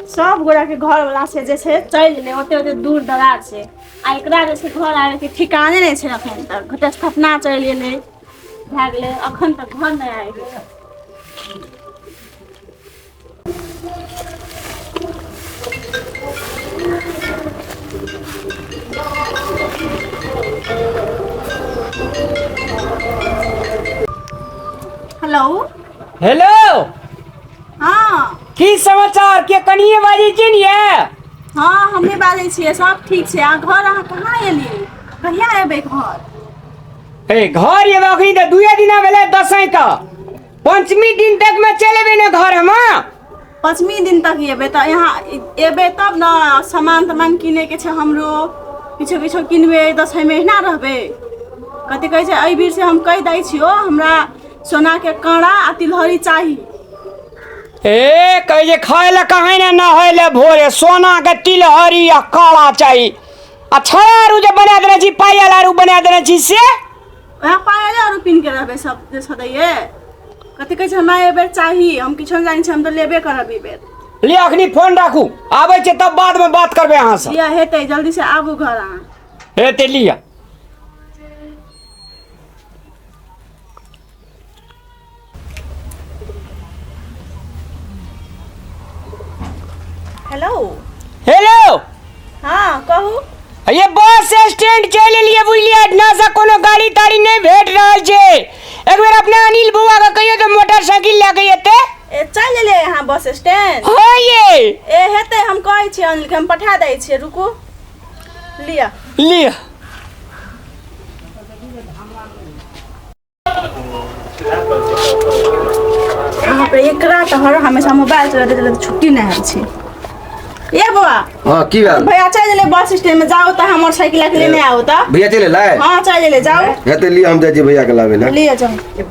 सब गोरा के घर वाला से जे छै चलि गेलै ओते ओते दूर दरार से आ एकरा जे छै घर आबे के ठिकाने नहि छै एखन तक घटस घटना चलि गेलै भए गेलै अखन तक घर नहि आबि गेलै हेलो हेलो हँ की समाचार के कनिये बाजै छियै ने यै हँ हमही बाजै छियै सब ठीक छै अहाँ घर अहाँ कहाँ एलियै कहिया एबै घर हे घर एबे अभी तऽ दूए दिना भेलै दसैं तऽ पंचमी दिन तक मे चलि एबै ने घर हम पचमी दिन तक एबै तऽ यहाँ एबै तब ने सामान तामान किनैके छै हमरो किछो किछो किनबै दसैँमे अहिना रहबै कथी कहै छै एहि बीर से हम कहि दै छियौ हमरा सोना के कांड़ा आ तिलहरी चाही ए कहे जे खाए ला कहे ने नहाए ला भोरे सोना के तिलहरी आ काला चाही आ छारू जे बना देने छी पाया लारू बना देने छी से वएह पाया जा आरो पिन के रहबे सब जे सदैये कथी कहै छै हमरा एहि बेर चाही हम किछो नहि जानै छी हम तऽ लेबे करब ई बेर ले अखनी फोन राखू आबै छै तब बाद में बात करबे अहाँ से लिअ हेतै जल्दी से आबू घर अहाँ ए ते लिया हेलो हेलो हाँ कहू ये बस स्टैंड चल एलिए बुझलिए ना से कोनो गाड़ी ताड़ी नहीं भेट रहल छै एक बेर अपना अनिल बुआ के कहियो तो मोटरसाइकिल लए के एते ए, चल एलिए यहाँ बस स्टैंड हो ये ए हेतै हम कहै छियै अनिल के हम पठा दै छियै रुकू लिया लिया एकरा तऽ हर हमेशा मोबाइल चलते चलते छुट्टी नहीं है छी ए बाबा हां की बात भैया चल ले बस स्टैंड में जाओ त हमर साइकिल के लेने आओ त भैया चले लाए हां चल ले जाओ हेते लिए हम जाई भैया के लावे ले लिए जाओ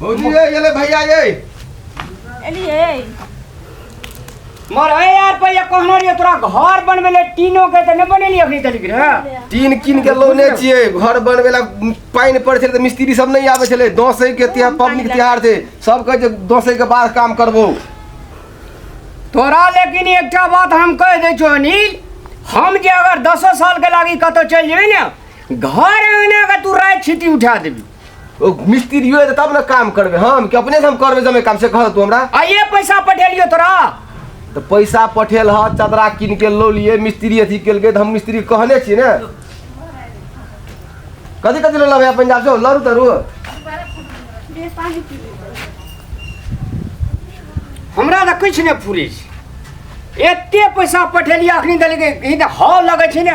भौजी ये ये ले भैया ये एलिए मर ए यार पहिया कहना रहिए तोरा घर बनबे ले टीनो के त न बनेली अखनी तलिक रे टीन कीन के लौने छिए घर बनबे ला पानि पड़े छलै तऽ मिस्त्री सब नहि आबै छलै दसै के तिहार पबनी के तिहार छै सब कहै छै दसै के बाद काम करबो तोरा लेकिन एकटा बात हम कह दै छौ अनिल हम जे अगर दसो साल के लागी कतौ चलि जेबै ने घर अंगना के तू राति छीटी उठा देबी ओ मिस्त्रियो है तब ना काम करबे हम कि अपने से हम करबे जमे काम से कह तू हमरा आइए पैसा पठेलियो तोरा तो पैसा पठेल ह चदरा किन के लो लिए मिस्त्री अथी केल गए तो हम मिस्त्री कहने छी ने कथी कथी लो लबे पंजाब से लरू तरू हमरा तऽ किछु नहि फुरै छै एते पैसा पठेलियै अखनी देलकै ई तऽ हॉल लगै छै ने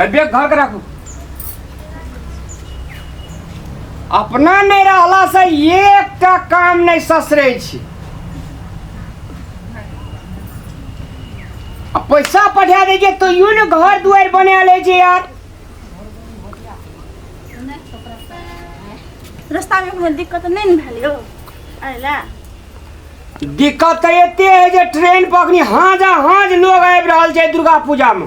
अरे बैग घर के राखू अपना में रहला से एकटा काम नहीं ससरे छी आ पैसा पठा दे जे तो यू ने घर दुआर बना ले जे यार रास्ता में कोनो दिक्कत नहीं ने भेल यौ अरे ला दिक्कत तो एते है जे ट्रेन पर अखनी हाँजा हाँज लोग आबि रहल छै दुर्गा पूजा में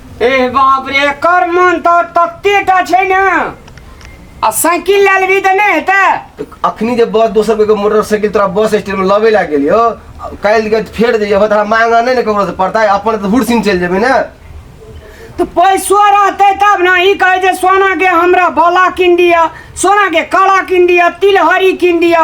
ए बाप रे एकर मन त तते टा छै ने आ साइकिल लए लेबही तऽ नहि हेतै तो अखनी जे बस दोसर कोई के मोटरसाइकिल तोरा बस स्टैंड में लबे ला गेलियो काल्हि के फेर जइयो अब तोरा मांगा नहीं ने ककरो से पड़ता है अपन तो हुरसिन चल जेबे ना तऽ पैसो रहतै तब ने ई कहै जे सोना के हमरा बाला कीन दिअ सोना के कड़ा कीन दिअ तिलहरी कीन दिअ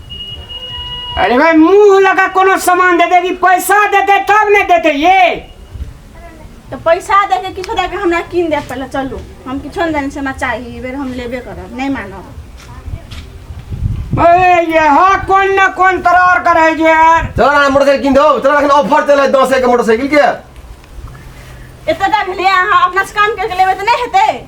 अरे भाई मुंह लगा कोनो सामान दे देगी पैसा देते तब नहीं देते ये तो पैसा दे के किछो दे के हमरा कीन दे पहले चलू हम किछो नहीं देने से हमरा चाहिए ई बेर हम लेबे करब नहीं मानब अरे ये हा कौन न कौन तरार करे जे यार चल ना मोटरसाइकिल किन दो चल अखन ऑफर चले दस के मोटरसाइकिल के एते तक ले अहाँ अपना से काम करके लेबे तऽ नहि हेतै